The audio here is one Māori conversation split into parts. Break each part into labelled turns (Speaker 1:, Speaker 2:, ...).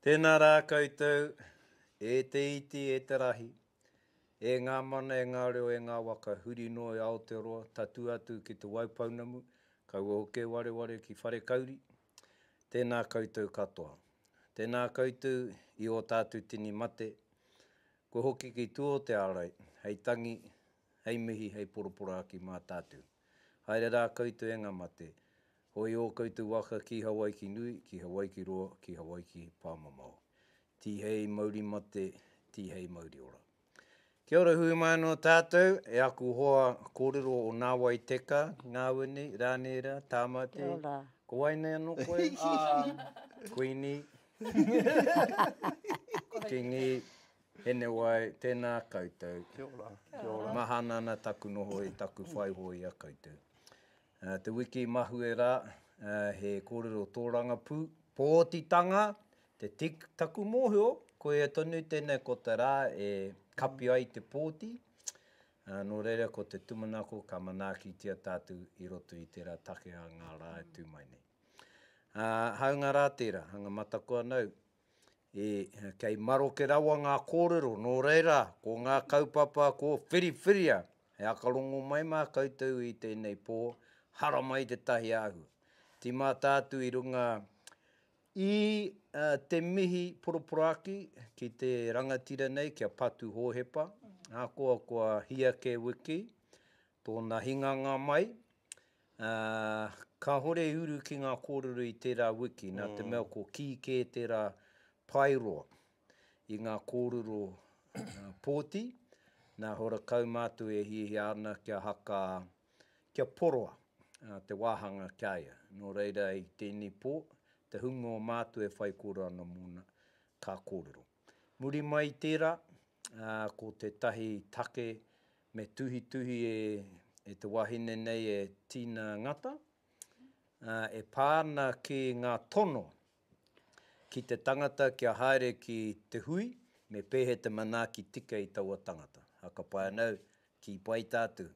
Speaker 1: Tēnā rā koutou, e te iti, e te rahi, e ngā mana, e ngā reo, e ngā waka, huri noa i Aotearoa, tatū atu ki Te Waipounamu, kaua hoki e wareware ki Wharekauri, tēnā koutou katoa. Tēnā koutou i ō tātou tini mate, kua hoki ki tua o te ārai, hei tangi, hei mihi, hei poroporaaki mā tātou. Haere rā koutou e ngā mate, Hoi ō koutou waka ki Hawaiki nui, ki Hawaiki roa, ki Hawaiki pāmamao. Tihei mauri mate, tihei mauri ora. Kia ora hui mai anō tātou, e aku hoa kōrero o Nāwai Teka, Ngāwene, Rānēra, Tāmati. Kia ora. Ko wai nei anō koe? Kuini. Kingi. Henewai, tēnā koutou. Kia ora. Kia ora. Mahana ana taku noho i taku whai hoa i a koutou. Te wiki mahue rā, he kōrero tōrangapū. Pōtitanga, te tik, taku mōhio, koia tonu tēnei ko te rā e kapi ai te pōti, nō reira ko te tumanako ka manaakitia tātou i roto i tērā take a ngā rā e tū mai nei. Hāunga rā tērā, hanga mataku anō, E, kei maroke rawa ngā kōrero, nō reira, ko ngā kaupapa kua whiriwhiria, he akarongo mai mā koutou i tēnei pō, haramai tētahi āhua. Tīmata atu i runga i te mihi poroporaki ki te rangatira nei, ki a Patu Hōhepa, ahakoa ko a Hia Kēwiki, tōna hinganga mai, Ā, kāhore i uru ki ngā kōrero i tērā wiki, nā te mea ko kī kē tērā paeroa i ngā kōrero pōti, nā Horakau mātou e hiahia ana kia haka, kia poroa te wāhanga ki a ia. Nō reira, i tēnei pō, te hunga o mātou e whaikōrero ana mōna, ka kōrero. Muri mai i tērā, ko tētahi take me tuhituhi e te wahine nei e Tina Ngata, e pā ana ki ngā tono ki te tangata kia haere ki te hui, me pēhea te manaaki tika i taua tangata. Hakapai ana au, kī pai tātou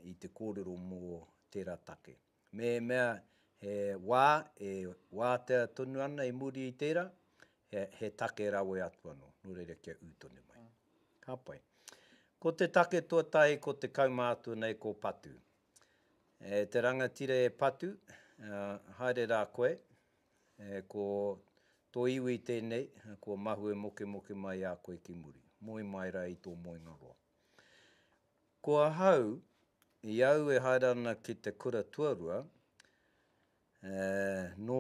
Speaker 1: i te kōrero mō tērā take. Mehemea he wā e wātea tonu ana i muri i tērā, he take rawe atu anō, nō reira kia ū tonu mai. Ka pai. Ko te take tuatahi ko te kaumātua nei ko Patu. E te rangatira e Patu, haere rā koe, ko tō iwi tēnei, kua mahue mokemoke mai a koe ki muri. Moe mai rā i tō moenga roa. Ko ahau, i au e haere ana ki te kura tuarua, nō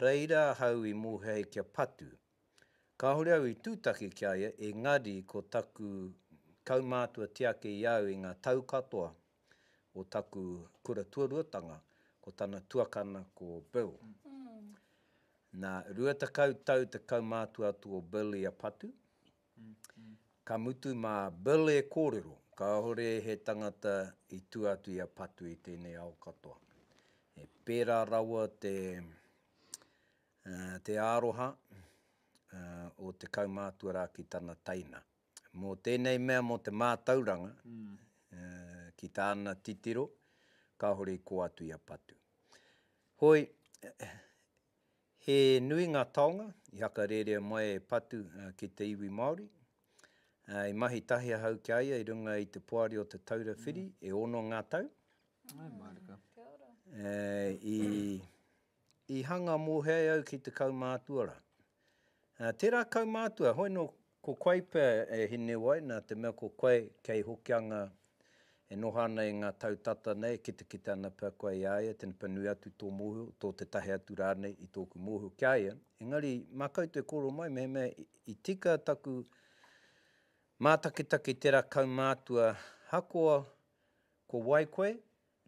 Speaker 1: reira ahau i mōhei kia patu. Kāore au i tūtaki ki a ia, engari ko taku kaumātua tiaki i au i ngā tau katoa o taku kura tuaruatanga, ko tana tuakana ko Bill. Nā, rua tekau tau te kaumātua atu o Bill i a Patu, Ka mutu mā Bill e kōrero, kāore he tangata i tua atu i a Patu i tēnei ao katoa. He pērā rawa te, te aroha o te kaumātua rā ki tana teina. Mō tēnei mea, mō te mātauranga ki tāna titiro, kāore i kō atu i a Patu. Hoi, He nui ngā taonga i hakarērea mai e Patu ki te iwi Māori. I mahi tahi ahau ki a ia i runga i te Poari o Te Taura Whiri e ono ngā tau. I hanga mōhēai au ki te kaumātua rā. Tērā kaumātua, hoi nō Ko koe pea e hineu ai nā te mea ko koe kei Hokianga e noho ana i ngā tau tata nei e kitakita ana pea koe i a ia tena pea nui atu tō mōhio, tō tētahi atu rānei i tōku mōhio ki a ia. Engari mā koutou e kōrero mai mehemea i tika taku mātakitaki i tērā kaumātua hakoa ko wai koe,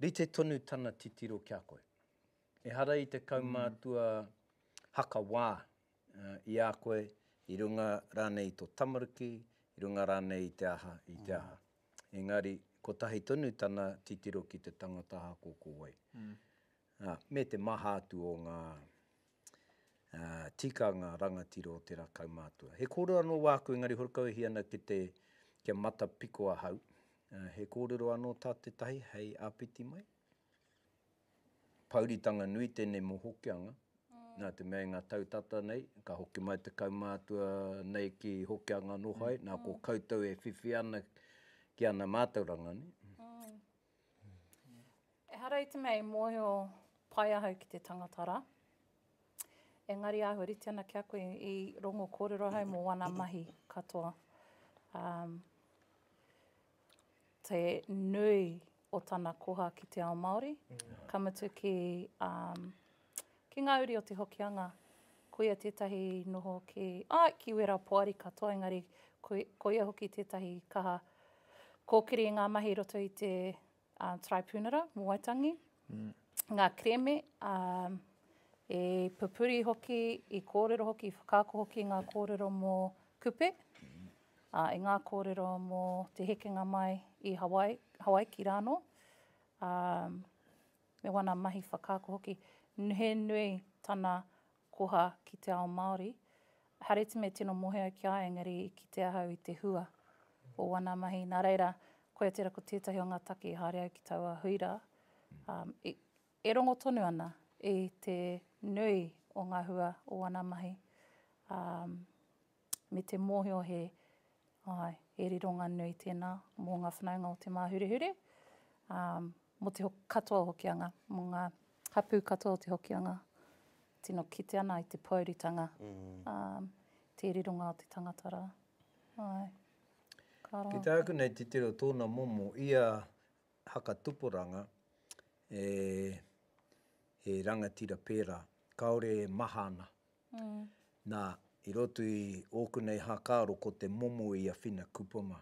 Speaker 1: rite tonu tana titiro ki a koe. Ehara i te kaumātua hakawā i a koe, i runga rānei i tō tamariki, i runga rānei i te aha, i te aha. Engari, kotahi tonu tana titiro ki te tangata aha ko ko wai. Me te maha atu o ngā tikanga rangatira o tērā kaumātua. He kōrero anō wāku, engari horekau e hia ana ki te, kia matapiko ahau, he kōrero anō tā tētahi hei āpiti mai? Pouritanga nui tenei mo Hokianga, na te mea i nga tau tata nei, ka hoki mai te kaumatua nei ki Hokianga no hai, na ko koutou e whiwhi ana ki ana matauranga nei. Ehara i te mea i mohio pai ahau ki te tangata ra, engari ahua rite ana ki a koe i rongo korero ahau mo wana mahi katoa. te nui o tana koha ki te ao Māori, ka mutu ki, um, ki ngā uri o Te Hokianga. Koia tētahi noho ki, āe, ki wērā poari katoa, engari koia hoki tētahi kaha kōkiri i ngā mahi i roto i te a Taraipiunara mō Waitangi, ngā kerēme, ā, e pupuri hoki, i kōrero hoki, i whakaako hoki i ngā kōrero mō Kupe, ā, i ngā kōrero mō te hekenga mai i Hawai, Hawaiki rānō, ā, me wāna mahi whakaako hoki. He nui tana koha ki te ao Māori. Hareti me tino mohea ki a au engari i kite ahau i te hua o wana mahi. Nā reira, koia tērā ko tētahi o ngā take i haere au ki taua hui rā, i, e rongo tonu ana i te nui o ngā hua o wana mahi. me te mōhio he, āe, he rironga nui tēnā mō ngā whanaunga o Te Māhurehure, ā, mō te katoa o Hokianga, mō ngā hapū katoa o te Hokianga, tino kite ana i te pōuritanga, ā, te rironga o te tangata rā. Āe. Ka roa. Ki tāku nei titiro tōna momo i a Haka Tuporanga, he rangatira pērā, kāore e maha ana Nā, i roto i ōku nei hākaro ko te momo i a Whina Kupama,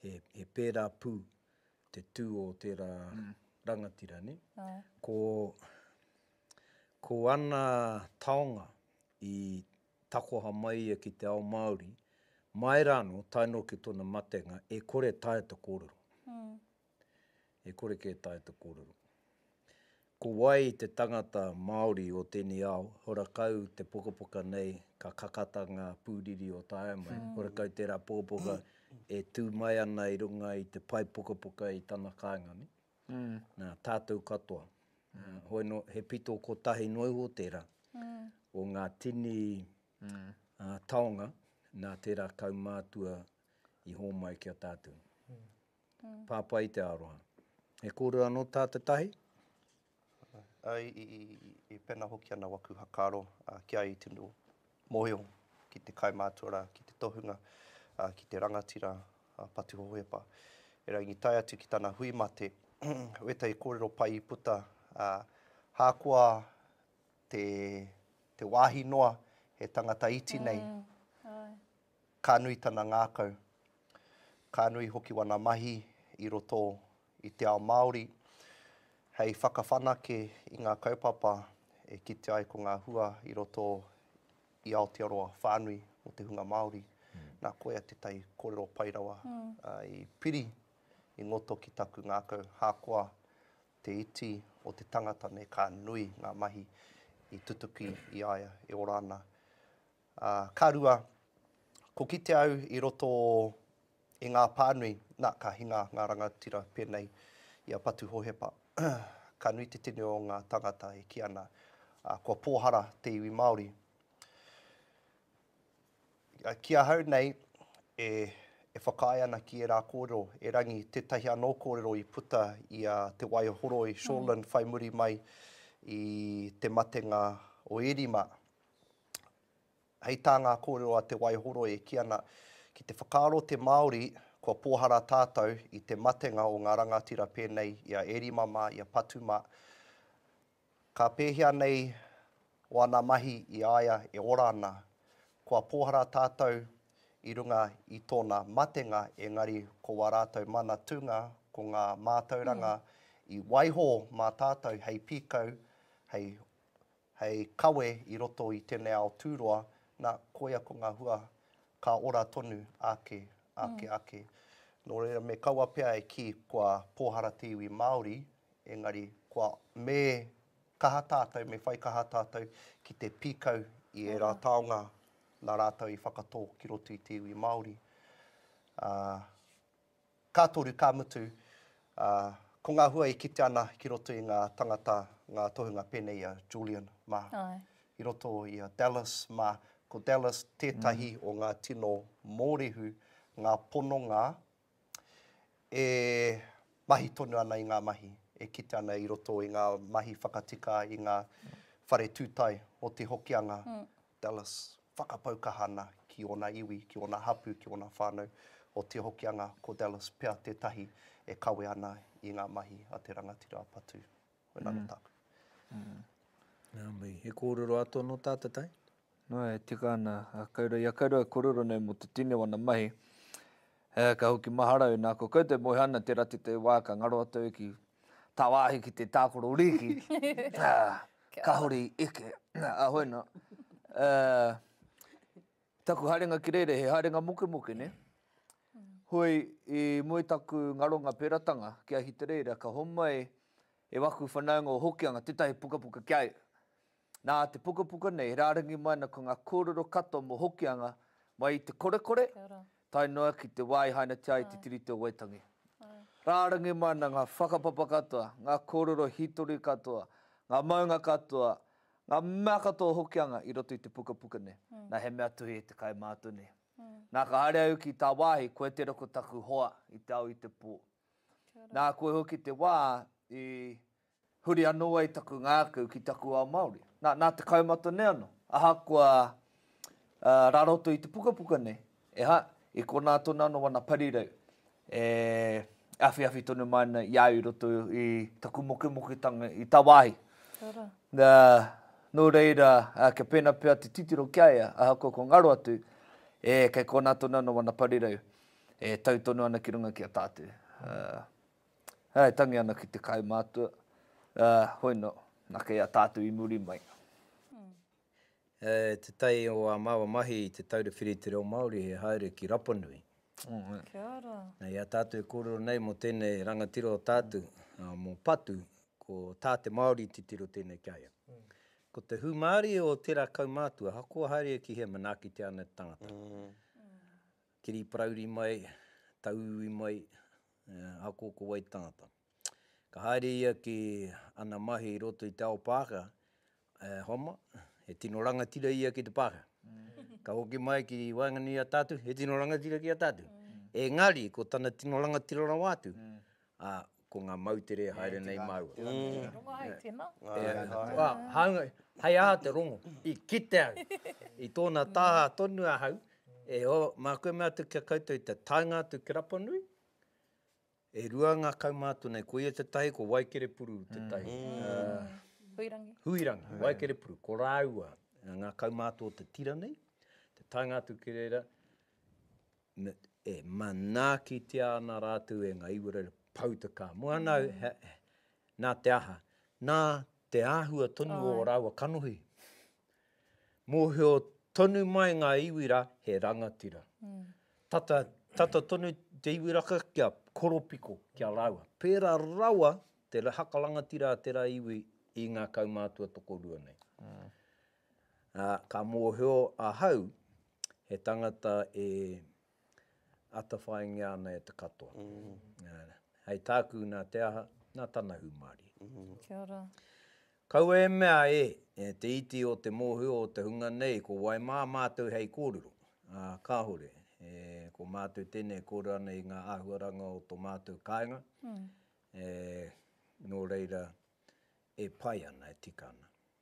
Speaker 1: he, he pērā pū te tū o tērā rangatira, nē. Ko, ko ana taonga i takoha mai ia ki te ao Māori, mai rānō, tae nō ki tōna matenga, e kore taea te kōrero. e kore kē taea te kōrero. Ko wai te tangata Māori o tēnei ao, horakau te pukapuka nei ka kakata ngā pūriri o taea mai, horakau tērā pukapuka e tū mai ana i runga i te pae pukapuka i tana kāinga nei, nā, tātou katoa. Hoi nō, he pito kotahi noa iho tērā o ngā tini taonga nā tērā kaumātua i hōmai ki a tātou. Pāpā i te aroha. He kōrero anō tā te tahi? Āe, i pēnā hoki ana waku whakaaro ki a ia tino mōhio ki te kaimātua rā, ki te tohunga, ki te rangatira patu hohepa. Erangi i tae atu ki tana hui mate, wētahi kōrero pai i puta, hākoa te wāhi noa he tangata iti nei, Ka nui tana ngākau, ka nui hoki wana mahi i roto i te ao Māori hei whakawhanake i ngā kaupapa e kite ai ko ngā hua i roto i Aotearoa whānui mō te hunga Māori. Nā, koia tētahi kōrero pai rawa i piri i ngoto ki taku ngākau. Hākoa te iti o te tangata nei, ka nui ngā mahi i tutuki i a ia e ora ana. Ā, ka rua, ko kite au i roto i ngā pānui, nā, ka hinga ngā rangatira pēnei i a Patu Hohepa, Ka nui te tini o ngā tāngata e kī ana, ā, kua pōhara te iwi Māori. Ā, ki ahau nei, e, e whakaae ana ki ērā kōrero, erangi tētahi anō kōrero i puta i a Te Waihoroi Shorlin whai muri mai i te matenga o Ērima. Hei tā ngā kōrero a Te Waihoroi e kī ana, ki te whakaaro te Māori kua pōhara tātou i te matenga o ngā rangatira pēnei i a Erima mā, i a Patu mā, ka pēhea nei ōna mahi i a ia e ora ana. Kua pōhara tātou i runga i tōna matenga engari ko wā rātou mana tūnga ko ngā mātauranga i waiho mā tātou hei pīkau, hei Hei kawe i roto i tenei ao tūroa, na, koia ko nga hua ka ora tonu ake, ake, ake. No reira me kaua pea e ki kua pōhara te iwi Maori, engari kua, me kaha tātou, me whai kaha tātou ki te pīkau i era taonga na ratou i whakatō ki roto i te iwi Maori. A. Ka toru, ka mutu, ā, ko ngā hua e kite ana ki roto i ngā tangata, ngā tohunga pēnei i a Julian mā, i roto i a Dallas mā, ko Dallas tētahi o ngā tino mōrehu, ngā pononga e mahi tonu ana i ngā mahi, e kite ana i roto i ngā mahi whakatika i ngā whare tūtae o Te Hokianga Dallas, whakapau kaha ana ki ōna iwi, ki ōna hapū, ki ōna whānau. Ko Te Hokianga, ko Dallas pea tētahi e kawe ana i ngā mahi a te rangatira a Patu. Koina nō tāku. Nā mihi. He kōrero atu anō tā te tai? Nō, e tika ana. Ia koutou e kōrero nei mō te tini o ana mahi. He aha ka hoki maharau nā ko koutou moe ana tera te te wā ka ngaro atu au ki ta wāhi ki te tākoro rīki ka hori eke a hoi nā taku haerenga ki reira he haerenga mokemoke ne hoi i moe taku ngaronga peratanga ki Ahitereira ka homai e waku whanaunga o Hokianga tetahi pukapuka ki a ia. Nā te pukapuka nei, rārangi mai ana ko ngā kōrero katoa mō Hokianga, mai i te korekore, tae noa ki te wā i hainatia ai te Tiriti o Waitangi. Rārangi mai ana ngā whakapapa katoa, ngā kōrero hītori katoa, ngā maunga katoa, ngā mea katoa o Hokianga i roto i te pukapuka nei. Nā, he mea tuhi e te kaimātua nei. Nā, ka haere au ki tāwāhi, koe tērā ko taku hoa i te ao i te pō. Nā, koe hoki te wā i. Huri anō ai taku ngākau ki taku ao Māori. Nā, nā te kaumata nei anō. Ahakoa rā roto i te pukapuka nei, e ha, i konā tonu anō ana parirau e awhiawhi tonu mai ana i a au i roto i taku mokemoketanga i tāwāhi. Ka rā. Nā, nō reira, kia pēnā pea te titiro ki a ia, ahakoa ko ngaro atu, e, kei konā tonu anō ana parirau e tau tonu ana ki runga ki a tātou. Ā, e tangi ana ki te kaumātua, ā, hoino, nā kei a tātou i muri mai. E te tai o a maua mahi i te taura whiri i te reo Māori he haere ki Rapanui. Kia ora. Na i a tātou e kōrero nei mo tēnei rangatira o tātou, mo Patu, ko Tā te Māori titiro tēnei ki a ia. Ko te hūmārie o tērā kaumātua, ahakoa haere ki hea manaakitia ana te tangata. Kiri parauri mai, tauiwi mai, E, ako ko wai tangata. Ka haere ia ki ana mahi i roto i te ao Pākehā, e, homa, he tino rangatira ia ki te Pākehā. Ka hoki mai ki waenganui i a tātou, he tino rangatira ki a tātou. Engari, ko tana tino rangatira rawa atu, a, ko ngā moutere e haere nei māua. E rongo ai tēnā. E, a, hāunga, hei aha te rongo? I kite au, i tōna taha tonu ahau, E o, mā koe mea atu ki a koutou i te taenga atu ki Rapanui, e rua ngā kaumātua nei, ko ia tētahi, ko Waikerepuru tētahi. Huirangi. Huirangi, Waikerepuru, ko rāua ngā kaumātua o te tira nei, te taenga atu ki reira, e manaakitia ana rātou e ngā iwaraira pau te kā. Mua ana, nā te aha, nā te āhua tonu o rāua kanohi, Mōhio tonu mai ngā iwi rā he rangatira. Tata, tata tonu te iwi raka kia koropiko ki a rāua. Pērā rawa te haka rangatira a tērā iwi i ngā kaumātua tokorua nei. Ā, ka mōhio ahau, he tangata e atawhaingia ana e te katoa. Hei tāku nā te aha, nā tana hūmārie. Kia ora. Kaua e mea e, te iti o te mōhio o te hunga nei, ko wai mā mātou hei kōrero? Ā, kāore. E, ko mātou tēnei e kōrero ana i ngā āhuaranga o tō mātou kāinga, e, nō reira, e pai ana, e tika ana.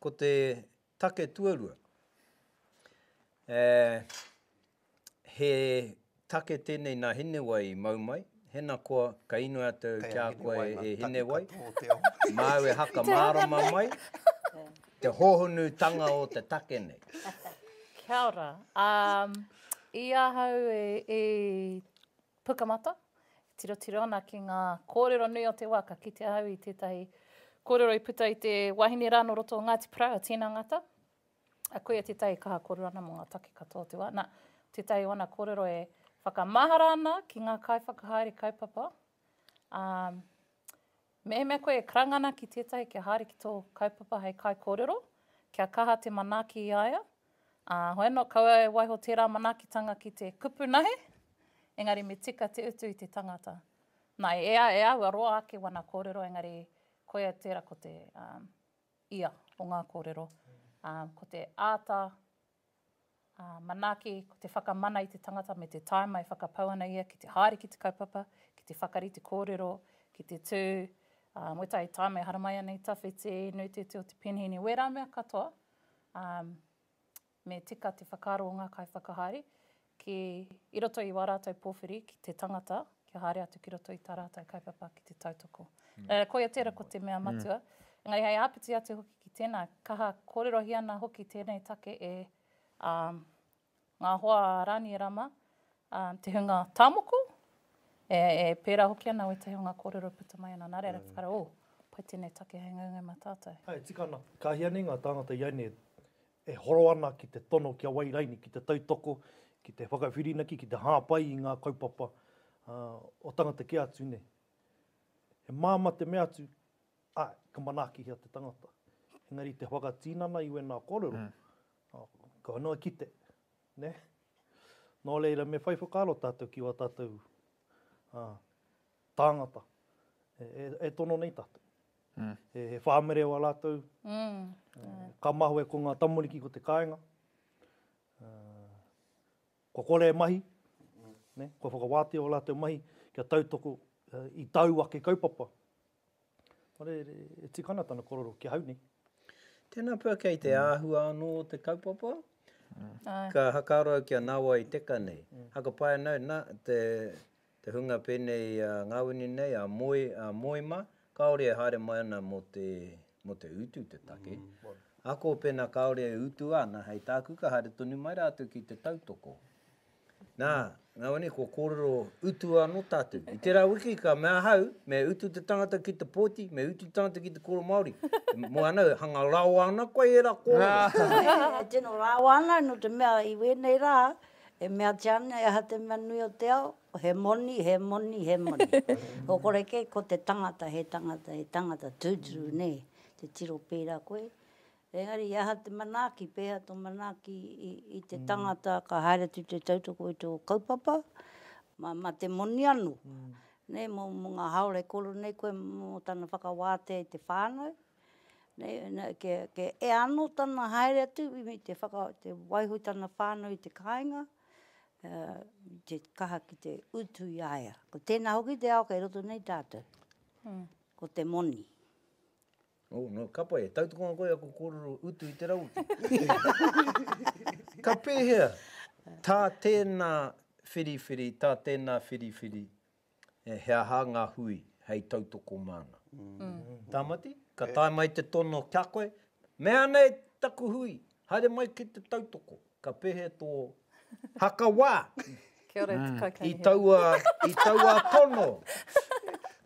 Speaker 1: Ko te take tuarua, he take tēnei nā Hinewai i mau mai, hena koa ka inoi atu au kia koa e Hinewai, māu e haka mārama mai te hohonutanga o te take nei. Kia ora. I ahau e. Pukamata, e tirotiro ana ki ngā kōrero nui o te wā, ka kite au i tētahi kōrero i puta i te wahine rā nō roto o Ngāti Porou, a Tina Ngata, a koia tētahi kaha kōrero ana mō ngā take katoa o te wā. Nā, tētahi o ana kōrero e whakamahara ana ki ngā kaiwhakahaere kaupapa, ā, Mehemea koe e karanga ana ki tētahi kia haere ki tō kaupapa hei kaikōrero, kia kaha te manaaki i a ia, ā, hoi anō kaua e waiho tērā manaakitanga ki te kupu nahe, engari me tika te utu i te tangata. Nā, e ea e āua roa ake wana kōrero engari koia tērā ko te, ā, ia o ngā kōrero, ā, ko te āta Ā, manaaki, ko te whakamana i te tangata me te tāima e whakapau ana ia ki te haere ki te kaupapa, ki te whakarite kōrero, ki te tū, ā, mo ētahi tāima e haramai ana i tawhiti, i nui te iti o te penheni, wērā mea katoa, ā, me tika te whakaaro o ngā kaiwhakahaere, ki i roto i wā rātou pōwhiri ki te tangata, kia haere atu ki roto i tā rātou kaupapa ki te tautoko. Ā, koia tērā ko te mea matua. Engari hei āpiti atu hoki ki tēnā, kaha kōrerohia ana hoki tēnei take e ngā hoa a Rānie Rama, te hunga tāmoko, e pērā hoki ana wētahi o ngā kōrero e puta mai ana, nā reira whakaaro, ō, pai tēnei take hei ngaunga mā tātou. Āe, tika ana. Ka hia nei ngā tāngata i a nei e horo ana ki te tono kia wai raini, ki te tautoko, ki te whakawhirinaki, ki te hāpai i ngā kaupapa o tangata kē atu nei. He māmā te mea atu, āe, ka manaakihia te tangata. Engari te whakatinana i wēnā kōrero, kua noa kite, nē? Nō reira, me whai whakaaro tātou ki wā tātou tāngata e tono nei tātou. He whāmerewa rātou. Ka mahue ko ngā tamariki ko te kāinga. Kua kore e mahi, kua whakawātea ō rātou mahi kia tautoko i tāu ake kaupapa. E tika ana tana korero ki ahau nei. Tēnā pea kei te āhua anō o te kaupapa. Ka hakaaro au kia nāwai teka nei. Haka pai ana au, nā, Te hunga pēnei a Ngawini nei, a Moe, a Moema, kāore e haere mai ana mō te, mō te utu te take. Ako pēnā kāore e utua ana hei tāku ka haere tonu mai rātou ki te tautoko. Nā, Ngawini, kua kōrero utua anō tātou. I tērā wiki ka mea ahau, me utu te tangata ki te pōti, me utu te tangata ki te kōrero Māori. Moe ana, hanga rawa ana koe ērā kōrero. Tino rawa ana, nō te mea i wēnei rā, E meatia ana e aha te mea nui o te ao, he moni, he moni, he moni. Ko kore kē, ko te tangata, he tangata, he tangata tūturu nei, te tiro pērā koe. Engari i aha te manaaki, pēhea tō manaaki i, i te tangata ka haere atu te tautoko i tō kaupapa, ma, ma te moni anō. Nē, mō, mō ngā haole koro nei koe mō tana whakawātea i te whānau, e ano tana haere atu me te waiho i tana whanau i te kainga, te kaha ki te utu i a ia. Ko tena hoki te ao kei roto nei tatou, ko te moni. Oh, no, ka pai, e tautoko ana koe aku korero utu i te rauti. Ka pehea ta tena whiriwhiri, ta tena whiriwhiri, He aha ngā hui hei tautoko māna? Tāmati, Ka tae mai te tono ki a koe, Mea nei taku hui, haere mai ki te tautoko. Ka pehe tō haka wā? Kia ora e te kaikamihana. I taua tono,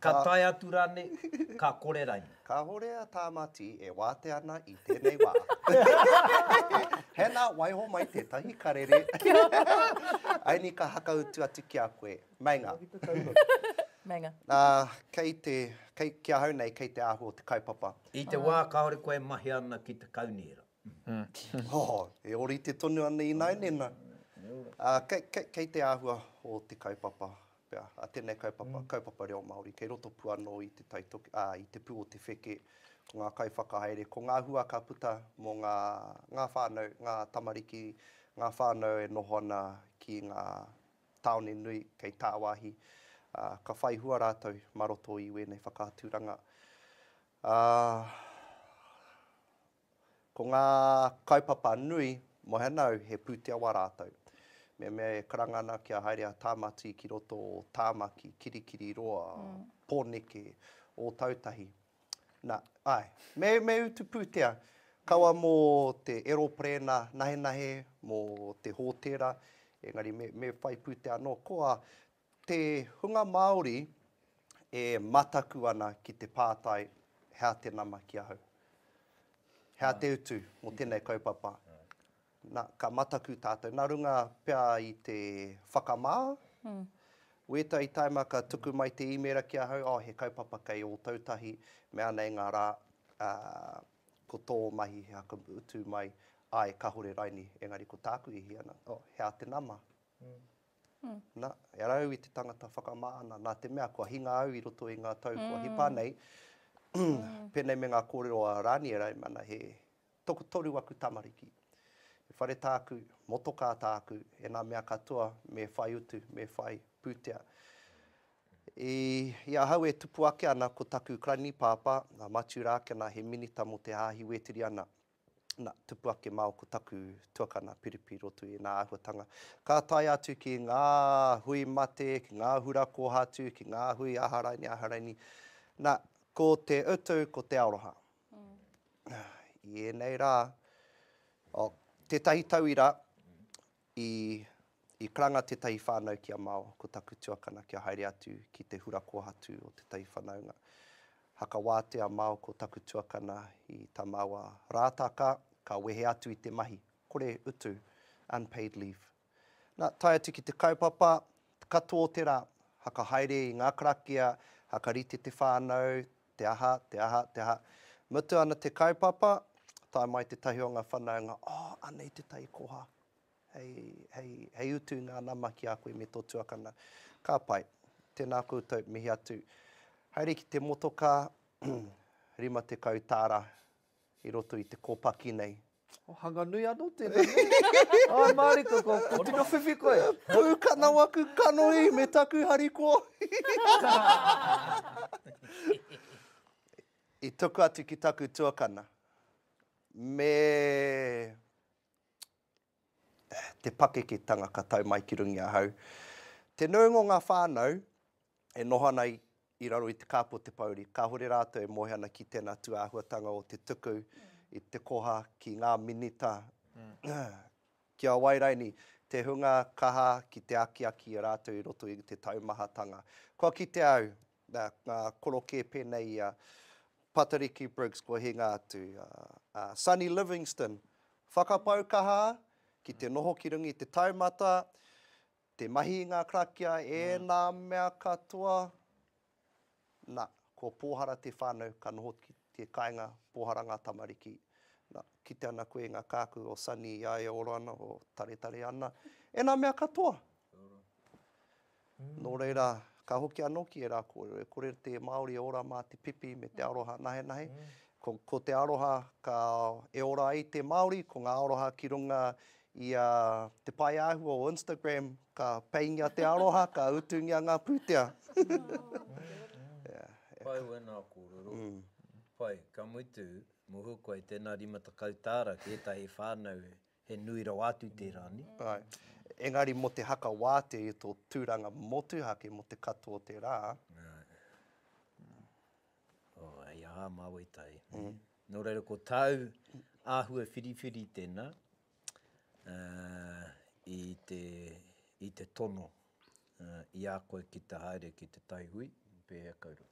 Speaker 1: ka tae atu rānei, ka kore rainā? Kāhore a Tāmati e wātea ana i tēnei wā. Hannah, waiho mai tētahi karere. Ainika, hakautu atu ki a koe, Meinga. Meinga. Ā, kei te, kei, ki ahau nei, kei te āhua o te kaupapa. I te wā kāore koe e mahia ana ki te kaunihera. Oh, e ōrite tonu ana ināinena. Ā, kei, kei, kei te āhua o te kaupapa, pea, a tēnei kaupapa, kaupapa reo Māori, kei roto pū anō i te taitoki, ā, i te pū o te wheke, ko ngā kaiwhakahaere, ko ngā hua ka puta mō ngā, ngā whānau, ngā tamariki, ngā whānau e noho ana ki ngā tāone nui kei tāwāhi, ā, ka whai hua rātou mā roto i wēnei whakaaturanga. Ā, ko ngā kaupapa nui, moe ana au he pūtea wā rātou. Me mea e karanga ana kia haere a Tāmati ki roto o Tāmaki, Kirikiriroa, Pōneke, Ōtautahi, Na, ae. Me, me utu pūtea. Kawa mō te eroperēna nahenahe, mō te hōtēra, engari me, me whai pūtea anō. Koa, te hunga Māori e mataku ana ki te pātai, hea te nama ki ahau? Hea te utu mō tēnei kaupapa? Na, ka mataku tatou, na runga pea i te whakama, wetahi taima ka tuku mai te imera ki ahau, oh, he kaupapa kei Otautahi, mea nei nga ra, a, ko to mahi he haka utu mai, ae, kahore raini, engari ko taku i hia na, oh, he a te nama. Na, e ara au i te tangata whakama ana, na te mea kua hinga au i roto i nga tau kua hipa nei, penei me nga korero a Raniera, e mana he, Tokotoru aku tamariki. He whare tāku, motokā tāku, e ngā mea katoa me whai utu, me whai pūtea. I, i ahau e tupu ake ana ko taku krani-pāpā, a Matiu Rākena, he minita mō te Hāhi Wētiriana, na, tupu ake māu ko taku tuakana, Piripi, roto i ēnā āhuatanga. Ka tae atu ki ngā hui mate, ki ngā hura kōhatu, ki ngā hui aha raini, aha raini, na, ko te utu, ko te aroha. I ēnei rā, oh, tētahi tauira, i, i karanga tētahi whānau ki a Mao, ko taku tuakana kia haere atu ki te hura kōhatu o tētahi whanaunga. Hakawātea Mao ko taku tuakana i tā māua rātaka, ka wehe atu i te mahi, kore utu, unpaid leave. Na, tae atu ki te kaupapa, katoa o te ra, haka haere i nga karakia, haka rite te whanau, te aha, te aha, te aha. Mutu ana te kaupapa, tae mai tetahi o nga whanaunga, Oh, anei te tai koha. Hei, hei, hei utu i nga nama ki a koe me to tuakana. Ka pai. Tena koutou, mihi atu. Haere ki te motoka, rima tekau taara, i roto i te kōpaki nei. O hanga nui anō tēnei nei. Ai mārika ko tino whiwhi koe. Pūkana waku kanohi me taku harikoa. I tuku atu ki taku tuakana, me te pakeketanga ka tau mai ki runga i ahau. Te nuinga o ngā whānau e noho ana i raro i te kāpu o te pouri, kāore rātou e moe ana ki tēnā tūāhuatanga o te tuku i te koha ki ngā minita ki a wai rainī, te hunga kaha ki te akiaki i a rātou i roto i te taumahatanga. Kua kite au, Nā, ngā korokē pēnei i a Patariki Briggs kua hinga atu, a Sonny Livingstone, whakapau kaha ki te noho ki runga i te taumata, te mahi i ngā karakia, ēnā mea katoa, nā, ko Pōhara te whānau ka noho ki te kāinga, Pōhara ngā tamariki. Nā, kite ana koe i ngā kākū o Sonny i a ia ora ana, o taretare ana, ēnā mea katoa. Kia ora. Nō reira, ka hoki anō ki ērā kōrero, e kore te Māori e ora mā te pipi me te aroha nahenahe. Ko te aroha e ora ai te Māori, ko ngā aroha ki runga i te pae āhua o Instagram, ka peingia te aroha, ka utungia ngā pūtea. Pai wēnā kōrero. Pai, ka mutu, mōhio koe, tēnā rima tekau tāra ki ētahi whānau He nui rawa atu tērā, nē? Āe. Engari mō te haka wātea i tō tūranga motuhake mō te katoa o te rā. Āe. Oh, hei aha, Māoitai, nē? Nō reira, ko tāu āhua whiriwhiri tēnā i te, i te tono i a koe ki te haere ki te taihui, pēhea kau rau?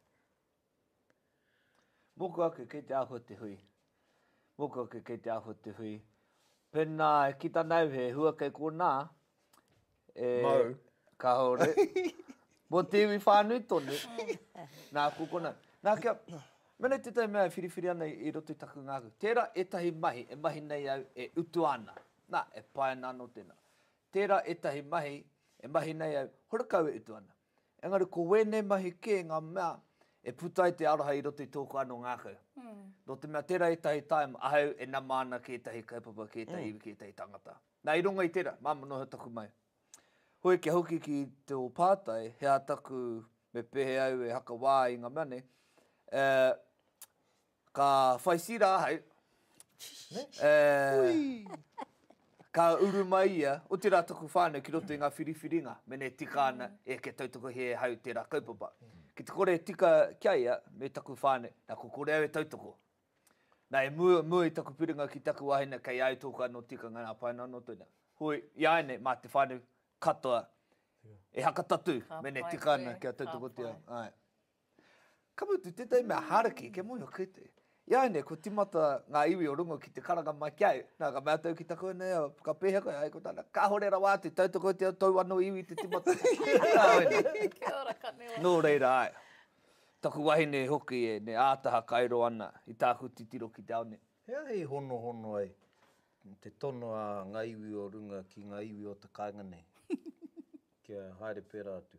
Speaker 1: Mōku ake kei te āhua te hui. Mōku ake kei te āhua te hui. Pēnā e kita ana au he hua kei konā, e... Mau. Kāore. Mō te iwi whānui tonu. Nā, ko konā. Nā, kia... Mēnei tētahi mea e whiriwhiri ana i roto i taku ngākau. Tērā ētahi mahi e mahi nei au e utua ana. Nā, e pae ana anō tēnā. Tērā ētahi mahi e mahi nei au, horekau e utua ana. Engari ko wēnei mahi kē ngā mea e puta ai te aroha i roto i tōku anō ngākau. Nō te mea tērā ētahi taim ahau e nama ana ki ētahi kaupapa, ki ētahi iwi, ki ētahi tangata. Nā, i runga i tērā, māmā noa hea taku mahi. Hoi kia hoki ki tō pātai, he aha taku, me pēhea au e haka wā i ngā mea nei, eh, Ka whai sira ahau, ka uru mai ia, otirā taku whānau ki roto i ngā whiriwhiringa, mena e tika ana, e kia tautoko he ahau tērā kaupapa. Ki te kore e tika ki a ia, me taku whānau, nā ko kore au e tautoko. Nā, e mua, mua i taku piringa ki taku wāhine, kei a au tōku anō tikanga nā pae noa noa tēnā. Hoi, iāianei, mā te whānau katoa e haka tatū, mena e tika ana kia tautokotia. Ka mutu, tētahi mea hāraki, kia moe ake te. Iāinei, kua timata ngā iwi o runga ki te karanga mai ki a au. Nā, ka mea atu au ki taku anaia, ka pēhea koe, ai ko tāna, kāhore rawa atu, tautokotia tōu anō iwi te timata. Kia ora, ka nui wāhine. Nō reira, āe. Taku wahine hoki e ne ātaha kai roa ana i tāku titiro ki te ao nei. He aha i honohono ai te tono a ngā iwi o runga ki ngā iwi o te kāinga nei, kia haere pērā atu?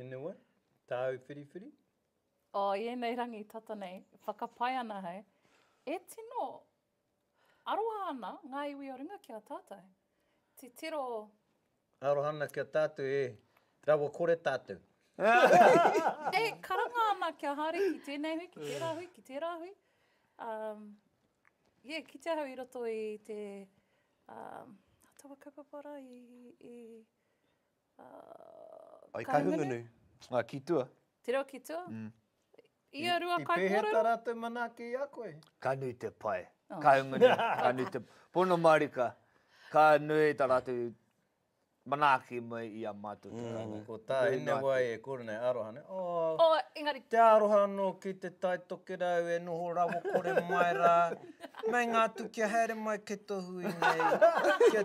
Speaker 1: Anyway, tāu whiriwhiri? Oh, i ēnei rangi tata nei, whakapae ana hei, e tino aroha ana ngā iwi o runga ki a tātou. Titiro. Aroha ana ki a tātou, e rawa kore tātou. e karanga ana kia haere ki tēnei hui, ki tērā hui, ki tērā hui. Um, yeah, ki te ahau i roto i te um, atawa kaupapa ra, i, i, I Kahungunu. Kahungunu? Ki tua. Te reo ki tua? Mm. Ia rua kaikōrero? I pēheta rātou manaaki i a koe? Ka nui te pae. Oh. Kahungunu, ka nui te... Pono marika, ka nui ta rātou manaaki mai i a mātou te rātou. Mm. Ko tā ina wai e kore nei aroha nei. Oh, oh, engari. Te aroha no ki te tai tokerau e noho rawa kore mai rā. Meinga atu kia haere mai ke tohu i nei.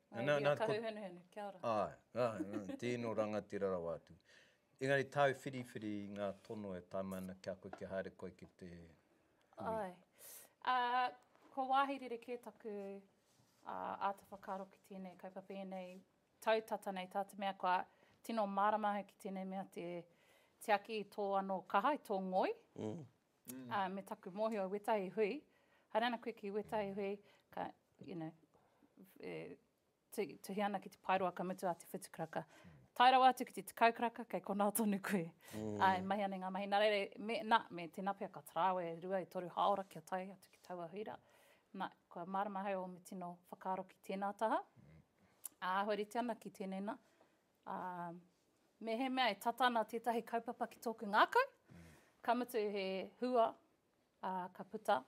Speaker 1: Ngā mihi a Kahuhunuhunu, kia ora. Āe, āe, tēnō rangatira rawa atu. Engari tāu whiriwhiri i ngā tono e tae mai ana ki a koe kia haere koe ki te hui? Āe, kua wāhi rerekē taku āta whakaaro ki tēnei kaupapa ēnei tau tata nei, tā te mea kua tino mārama au ki tēnei mea te tiaki i tō anō kaha, i tō ngoi, ā, me taku mōhio i wētahi hui, haere ana koe ki wētahi hui, ka, you know, e, tuhi ana ki te paeroa ka mutu a te whitu karaka. Tae rawa atu ki te tekau karaka, kei konā tonu koe. Mm. Ai, mahi ana ngā mahi. Nā reira, me, nā, me tēnā pia ka tarāwe e rua, e toru haora kia tae atu ki taua hui rā. Nā, kua mārama hai o me tino whakaaro ki tēnā taha. Mm. Āhua rite ana ki tēnei nā, Ā, mehemea e tata ana tētahi kaupapa ki tōku ngākau, ka mutu he hua, ā, ka puta,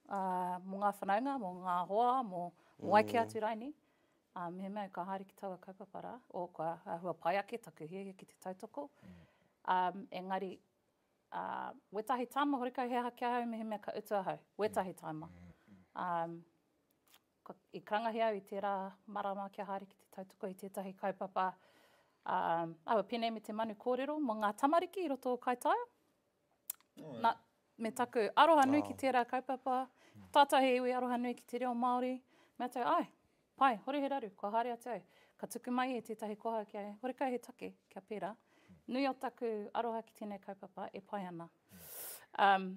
Speaker 1: ā, mō ngā whanaunga, mō ngā hoa, mō, mō ai kē atu raini, ā, mehemea ka haere ki taua kaupapa rā, o kua āhua pai ake taku hiahia ki te tautoko, ā, engari, ā, wētahi tāma horekau he aha ki ahau mehemea ka utu ahau, wētahi tāma. Ā. Ko, i karangahi au i tērā marama kia haere ki te tautoko i tētahi kaupapa a aua pēnei me te manu kōrero mō ngā tamariki i roto o Kaitaia. Oh, Na, me taku aroha nui wow. ki tērā kaupapa, tātou he iwi aroha nui ki te reo Māori, me atu, ai, pai, hore he raru, kua haere atu au. Ka tuku mai e tētahi koha ki ai, hore kai he take, kia pērā. Nui o taku aroha ki tēnei kaupapa, e pai ana. Um,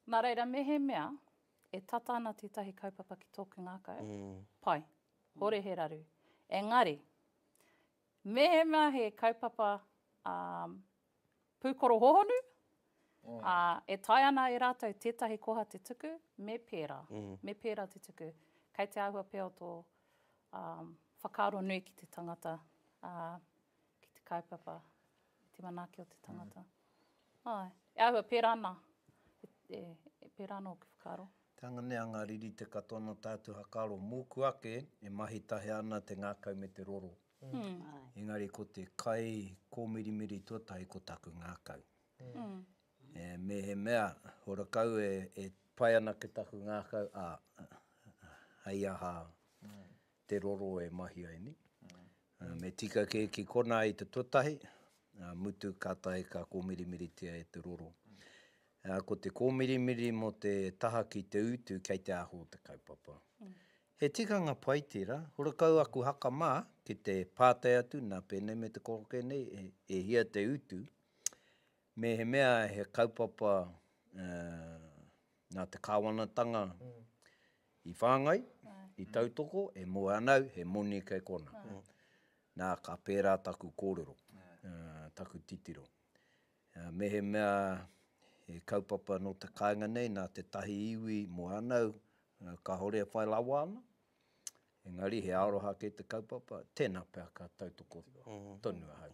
Speaker 1: nā reira, mehemea, E tata ana tētahi kaupapa ki tōku ngākau. Pai. Hore he raru. Engari, mehemea he kaupapa um, pūkoro hohonu, mm. uh, e tae ana e rātou tētahi koha te tuku, me pērā. Mm. Me pērā te tuku. Kei te āhua pēo tō um, whakaaro nui ki te tangata, uh, ki te kaupapa. I te manaaki o te tangata. Āe. E āhua, pērā nā. E, e, pērā anō ki whakaaro. Te anga nei a ngā riri te katoa nō tātou whakaaro. Mōku ake, e mahi tahi ana te ngākau me te roro. Engari ko te kai kōmirimiri tuatahi ko taku ngākau. E, mehemea, horakau e, e pai ana ki taku ngākau, ā, hei aha, te roro e mahi ai nei. Me tika kē ki konā i te tuatahi, ā mutu kātahi ka kōmirimiritia e te roro. Ko te kōmirimiri mō te taha ki te utu kei te aho o te kaupapa. He tikanga pai tērā, horekau aku haka mā ki te pātai atu nā pēnei me te kōkē nei e hia te utu, Mehemea he kaupapa nā te kāwanatanga i whāngai, i tautoko, e moe ana au, he moni kei konā. Nā, ka pērā taku kōrero, taku titiro. Mehemea he kaupapa nō te kāinga nei, nā tētahi iwi i moe ana au, kāore e whai rawa ana, engari he aroha kei te kaupapa, tēnā pea ka tautoko tonu ahau.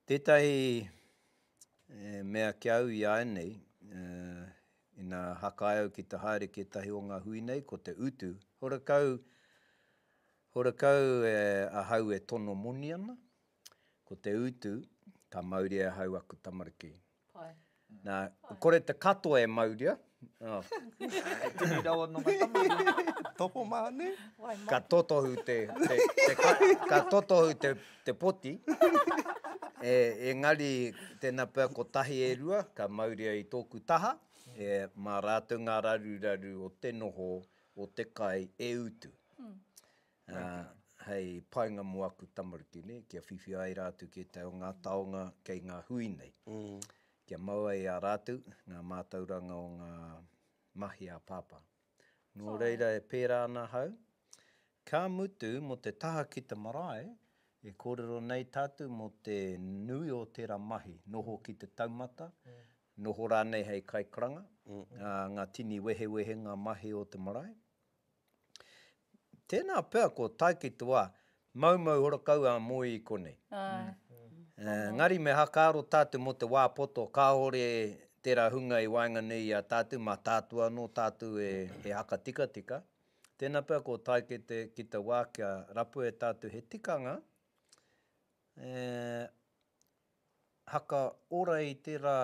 Speaker 1: Tētahi mea ki au i āianei, ina hakae au ki te haere ki ētahi o ngā hui nei, ko te utu. Horekau, horekau ahau e tono moni ana, ko te utu, ka mauria e ahau aku tamariki. Pai. Nā, kore te katoa e mauria. Oh. e tini rawa no ngā tamariki. Topo māne. Ka totohu te, te, te ka, ka totohu te, te poti. e, e ngari tēnā pea ko tahi e rua, ka mauria i tōku taha. E, mā rātou ngā raruraru o te noho, o te kai e utu. Mm. hei painga mo aku tamariki nei, kia whiwhi ai rātou ki ētahi o ngā taonga kei ngā hui nei. Kia mau ai a rātou ngā mātauranga o ngā mahi a Pāpā. Nō reira e pērā ana ahau, ka mutu mō te taha ki te marae, e kōrero nei tātou mō te nui o tērā mahi, noho ki te taumata, noho rānei hei kaikaranga, ngā tini wehewehenga mahi o te marae. Tēnā pea ko tae ki te wā, maumau horakau a Moe i konei. Engari me hakaaro tātou mō te wā poto kāore tērā hunga i waenga nei i a tātou, mā tātou anō tātou e hakatikatika. Tēnā pea ko tae ki te ki te wā kia rapu e tātou he tikanga, haka ora i tērā,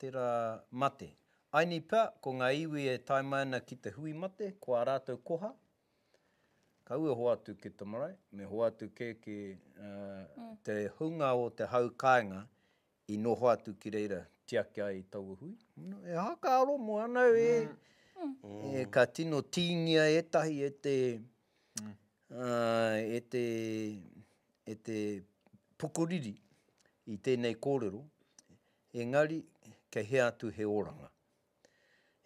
Speaker 1: tērā mate. Aini pea, ko ngā iwi e tae mai ana ki te hui mate, ko ā rātou koha, kaua e hoatu ki te marae, me hoatu kē ki te hunga o te hau kāinga i noho atu ki reira, tiaki ai i taua hui. E haka aro mō anau e, e ka tino tīngia ētahi e te, e te, e te pukuriri i tēnei kōrero, engari kei hea atu he oranga?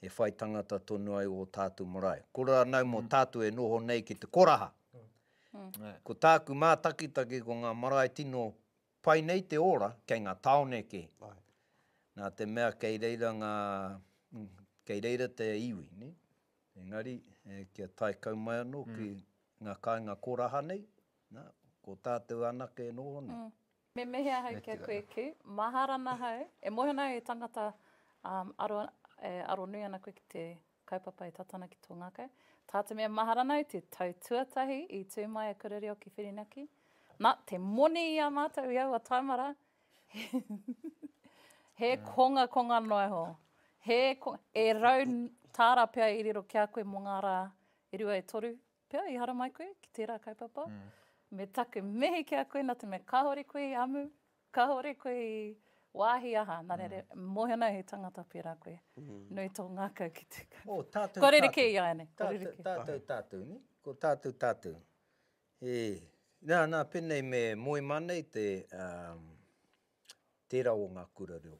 Speaker 1: E whai tangata tonu ai ō tātou marae. Ko rānau mō tātou e noho nei ki te koraha. Ko tāku mātakitaki ko ngā marae tino pai nei te ora kei ngā tāone kē. Nā te mea kei reira ngā, kei reira te iwi, nē. Engari kia tae kau mai anō ki ngā kāinga koraha nei, Na, ko tatou anake no one. Me mihi ahau kia koe ki. Mahara ana ahau. E mohi ana au e tangata e aronui ana koe ki te kaupapa e tata ana ki to ngakau. Ta te mea mahara ana au te tau tuatahi i tu mai a Kura Reo ki Whirinaki. Na, te moni i a matou i aua taima ra, he konga konga noa iho. He konga, e rau tara pea i riro ki a koe mo nga ra e rua e toru Pea i haramai koe ki tērā kaupapa, me taku mihi ki a koe nā te mea kāore koe i amu, kāore koe i wāhi aha, nā reira, mōhio ana he tangata pērā koe. Nui tō ngākau ki te kaupapa. Oh, tātou, tātou. Kua rerekē i a ianei, kua rerekē. Tātou, tātou, nē? Ko tātou, tātou. E, nā, nā, pēnei me moe mānei te, tērā o ngā kura reo.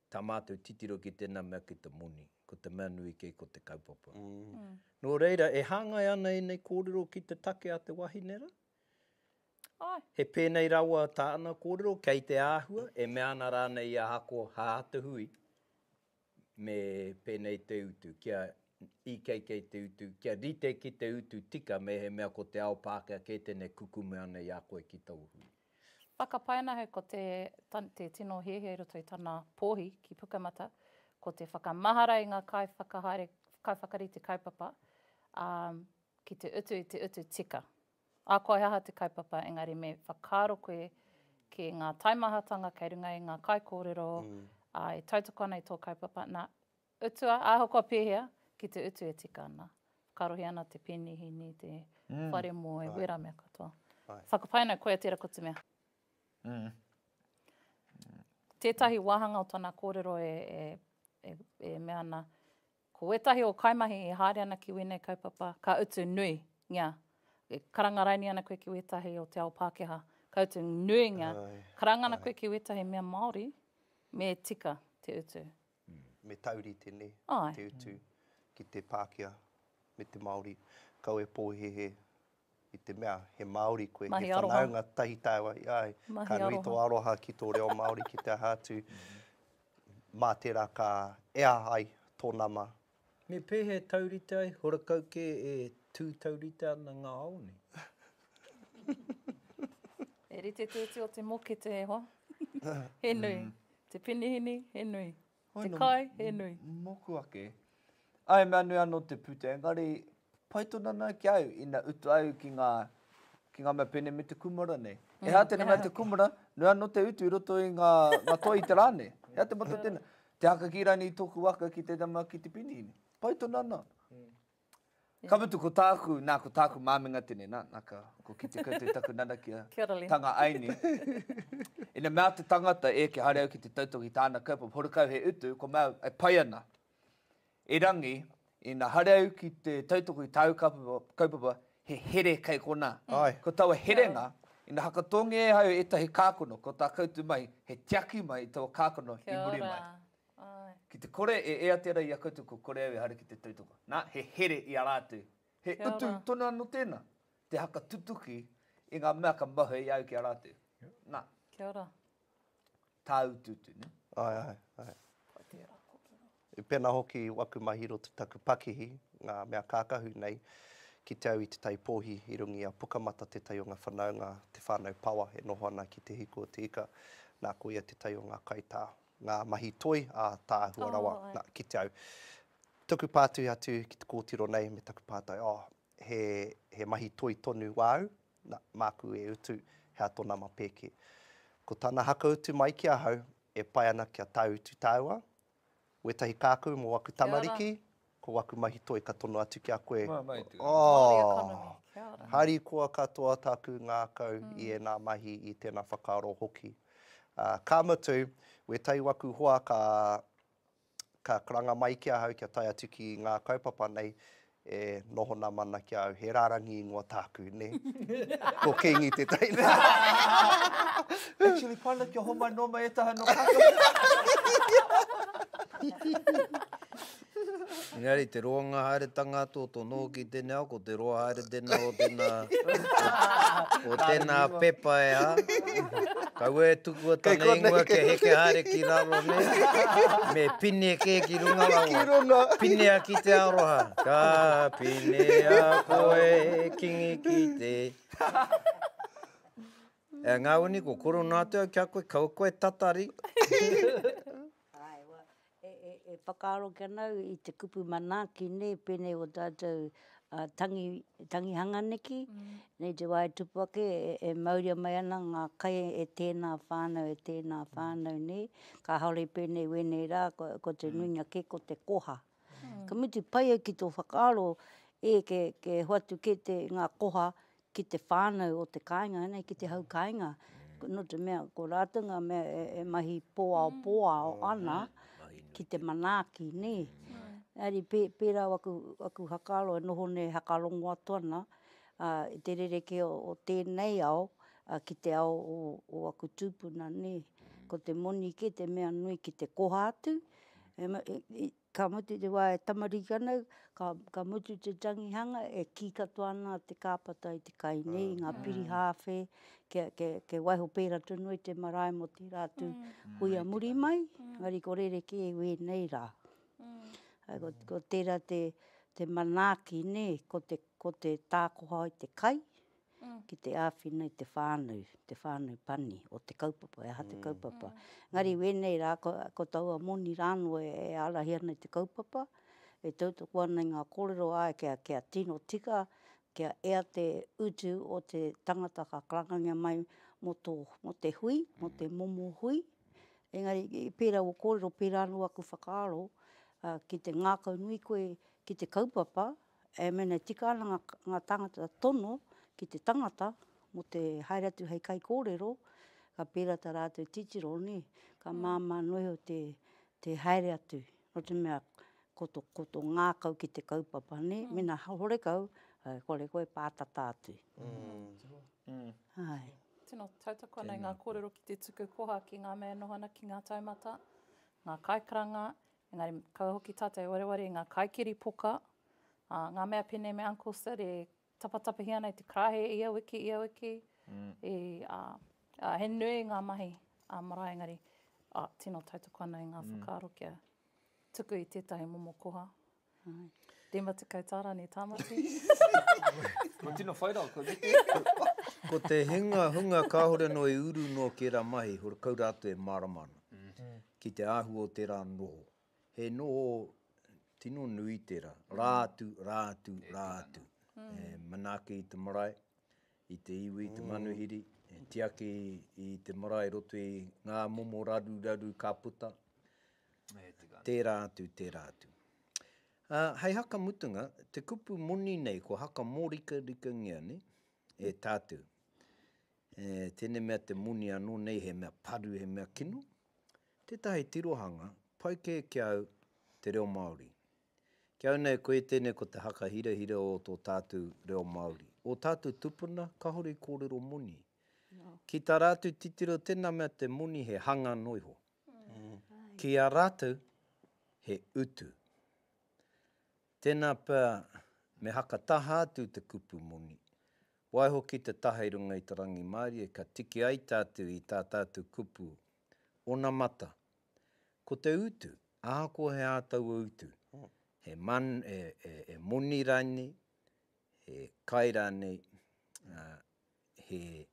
Speaker 1: Tā mātou titiro ki tēnā mea ki te moni, ko te mea nui kē ko te kaupapa. Nō reira, e hāngai ana ēnei kōrero ki te take a te wahine rā? Āe. He pēnei rawa tāna kōrero, kei te āhua, e mea ana rānei i a Ako, hā te hui, me pēnei te utu, kia IKK te utu, kia rite ki te utu tika mehemea ko te ao Pākehā kē tēnei kukume ana i a koe ki tōu hui. Whakapae ana ahau ko te te tino hiahia i roto i tana pōhi ki Pukamata, ko te whakamahara i ngā kaiwhakahaere, kaiwhakarite kaupapa, ā, ki te utu i te utu tika. Ahakoa he aha te kaupapa, engari me whakaaro koe ki ngā taimahatanga kei runga i ngā kaikōrero, ā, e tautoko ana i tō kaupapa, nā, Utua, ahakoa pēhea, ki te utu e tika ana. Karohi ana te penihini, te whare moe, wērā mea katoa. Whakapae ana koe a Tera ko te mea. Tētahi wāhanga o tana kōrero e mea ana, ko wētahi o kaimahi e haere ana ki wēnei kaupapa, ka utu nui ngia. E karanga raini ana koe ki wētahi o te ao Pākehā, ka utu nui ngia. Karanga ana koe ki wētahi mea Māori, me tika te utu. Me taurite ne, te utu ki te Pākehā me te Māori, kaua e pōhēhē i te mea he Māori koe, he whanaunga tahi tāua i a au. Ka nui tō aroha ki tō reo Māori ki te aha atu, mā tērā ka ea ai tō nama Me pēhea e taurite ai, horakau kē e tū taurite ana ngā ao nei. He rite te iti o te mokete e hoa, he nui. Te penihini, he nui. Te kai, he nui. Moku ake. Ae, mea nui ano te pute, engari Pai tonu ana ki au ina utu au ki nga ki nga mea pene me te kumara nei. E ha tena mea te kumara, nui ano te utu i roto i nga nga toi i te ra nei. E ha te matou tena. Te haka ki rani i toku waka ki te tama ki te pini ine. Pai tonu ana. Ka mutu ko taku, na ko taku mamenga tene na, na ka ko kite koutou taku nanakia tanga ai ni. Ina mea te tangata e ke hare au ki te tautoki tana kaupapa, horekau he utu, ko mau e pai ana. Erangi, ina haere au ki te tautoko i tāu kaupapa, he here kei konā. Ko taua herenga, ina hakatongia e au ētahi kākano, ko tā koutou mahi, he tiaki mai i taua kākano i muri mai. Ki te kore e ea tērā i a koutou kua kore au e haere ki te tautoko. Nā, he here i a rātou. He utu tonu anō tēnā, te hakatutuki i ngā mea ka mahue i a au ki a rātou. Nā. Kia ora. tāutuutu, nē? Āe, āe, āe. Ko tērā kōrero. I pēnā hoki waku mahi i roto i taku pakihi, ngā mea kākahu nei, ki te au i Te Tai Pōhi, i runga i a Pukamata tētahi o ngā whanaunga, te whānau Pawa, e noho ana ki Te Hiku o Te Ika, nā, ko ia tētahi o ngā kaitā, ngā mahi toi ātaahua rawa, nā, ki te au. Tuku pātuhi atu ki te kōtiro nei me taku pātai, oh, He, he mahi toi tonu wāu, na, māku e utu, he ato nama pēke. Ko tana hakautu mai ki ahau, e pai ana kia tāutu tāua, wētahi kākau mō aku tamariki, ko waku mahi toi ka tono atu ki a koe. Oh! Harikoa katoa taku ngākau i ēnā mahi, i tēnā whakaaro hoki. Ā, ka mutu, wētahi waku hoa ka, Ka karanga mai ki ahau kia tae atu ki ngā kaupapa nei e noho na mana ki a au, he rarangi ingoa tāku, nē? Ko Kingi tētahi nā. Actually pai na kia homai noa mai etaha no Kākano. Engari te roanga haeretanga ato to noho ki tenei ao ko. Te roa haere tēnā o tēnā, o tēnā pepa e hā. Kaua e tukua tana ingoa kia heke haere ki raro nei, me pine kē ki runga rawa. Pinea ki te aroha. Ka pinea koe kingi ki te. E ngā wini ko koro nā te au kia koe, kaua koe tatari. Ae, wa, e, e, e whakaaro ke anau i te kupu manaaki ne, penei o tatou a tangi, tangihanga neki, nei te wa e tupu ake e, e mauria mai ana nga kai e tena whanau, e tena whanau ne, kahore penei wenei ra ko, ko te nuinga ke ko te koha. Ka mutu pai au ki tō whakaaro, e, ke, ke hoatu kē te, ngā koha ki te whānau o te kāinga, nē, ki te hau kāinga, nō te mea, ko rātou ngā mea e, e mahi pōaopōao ana ki te manaaki, nē. Engari pē, pērā au aku, aku whakaaro e noho nei e whakarongo atu ana, ā, i te rerekē o, o tēnei ao, ā, ki te ao o, o aku tūpuna, nē. Ko te moni kē te mea nui ki te koha atu, ka mutu te wā e tamariki ana au, ka mutu te tangihanga e kī katoa ana te kāpata i te kai nei, i ngā piri hāwhe, kia waiho pērā tonu ai te marae mō tērā atu kuia muri mai, engari ko rerekē i wēnei rā. Ko tērā te manaaki nē, ko te tākoha i te kai, ki te āwhina i te whānau, te whānau pani o te kaupapa, e aha te kaupapa. Engari wēnei rā, ko, ko taua moni rāno e, e ārahi ana i te kaupapa, e tautoko ana i ngā kōrero āe kia, kia tino tika, kia ea te utu o te tangata ka karangangia mai mō, tō, mō te hui, mō te momo hui. Engari, i pērā o kōrero, pērā anō aku whakaaro, uh, ki te ngākau nui koe ki te kaupapa, e mēnei tika ana ngā, ngā tāngata tono ki te tangata mō te haere atu hei kaikōrero, ka pērā tā rātou titiro, nē, ka māmā noa iho te, te haere atu. Nō te mea, ko tō, ko tō ngākau ki te kaupapa, nē, mēnā he horekau, āe, kore koe pātata atu. Āe. Tino tautoko ana i ngā kōrero ki te tuku koha ki ngā mea e noho ana ki ngā taumata, ngā kaikaranga, Engari, kaua hoki tātou e wareware i ngā kaikiri poka, ā, ngā mea pēnei me Uncle Sid e tapatapahia ana i te karaehe ia wiki, ia wiki, i, ā, ā, he nui ngā mahi ā marae, engari, ā, tino tautoko ana i ngā whakaaro kia tuku i tētahi momo koha, Rima tekau tā rānei tāmati. Ko tino whai rā, ko Riki. Ko te hinga hunga kāore noa i uru noa ki ērā mahi, hore kaura atu e mārama ana. Mm-hmm. Ki te āhua o tērā noho. He noho tino nui tērā. Rā mm. atu, rā atu, e rā atu. Mm. E manaaki i te marae, i te iwi, i te mm. manuhiri. E tiaki i te marae roto i ngā momo raru raru ka puta. Tērā atu, tērā atu. Ā, hei haka mutunga, te kupu moni nei kua haka mōrikarikangia nei e tātou. E, tēnei mea te moni anō nei he mea paru, he mea kino. Tētahi tirohanga, pai kē ki au te reo Māori. Ki au nei, koe tēnei ko te haka hirahira o tō tātou reo Māori. Ō tātou tupuna, kāore i kōrero moni. Ki tā rātou titiro, tēnā mea te moni he hanga noa iho. ki a ratou he utu. Tena pea me haka taha atu te kupu moni, waiho ki te taha i runga i te rangimarie ka tiki ai tatou i ta tatou kupu onamata. Ko te utu, ahakoa he a taua utu, he he moni ranei, he kai ranei, he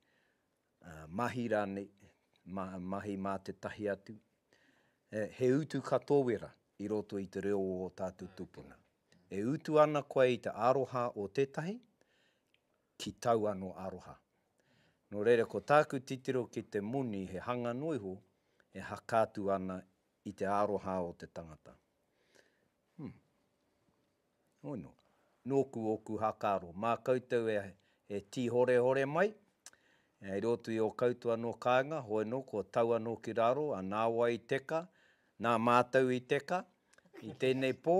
Speaker 1: Mahi rānei, mahi mā tētahi atu, he utu ka tōwera i roto i te reo o ō tātou tūpuna. E utu ana koe i te aroha o tētahi, ki tau anō aroha. Nō reira, ko tāku titiro ki te moni he hanga noa iho e hakā atu ana i te aroha o te tangata. Hum. Ono. Nōku ōku hakaaro. Mā koutou e, e tīhorehore mai, e rōtu i ō koutou anō kāinga, hoi nō, kua tau anō ki raro, a nāwai i teka, nā mātou i teka, i tēnei pō,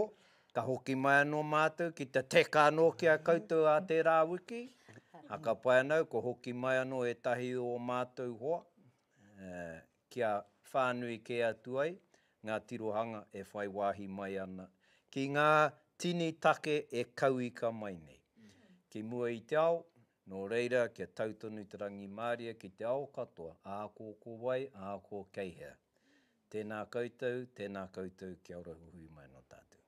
Speaker 1: ka hoki mai anō mātou ki te teka anō ki a koutou ā tērā wiki, ā, ka pai ana au, kua hoki mai anō ētahi o ō mātou hoa, e, kia whānui kē atu ai ngā tirohanga e whai wāhi mai ana ki ngā tini take e kauika mai nei ki mua i te ao, nō reira kia tau tonu te rangimārie ki te ao katoa, ākō ko wai, ākō kei hea. Tēnā koutou, tēnā koutou, kia ora huhui mai nō tātou.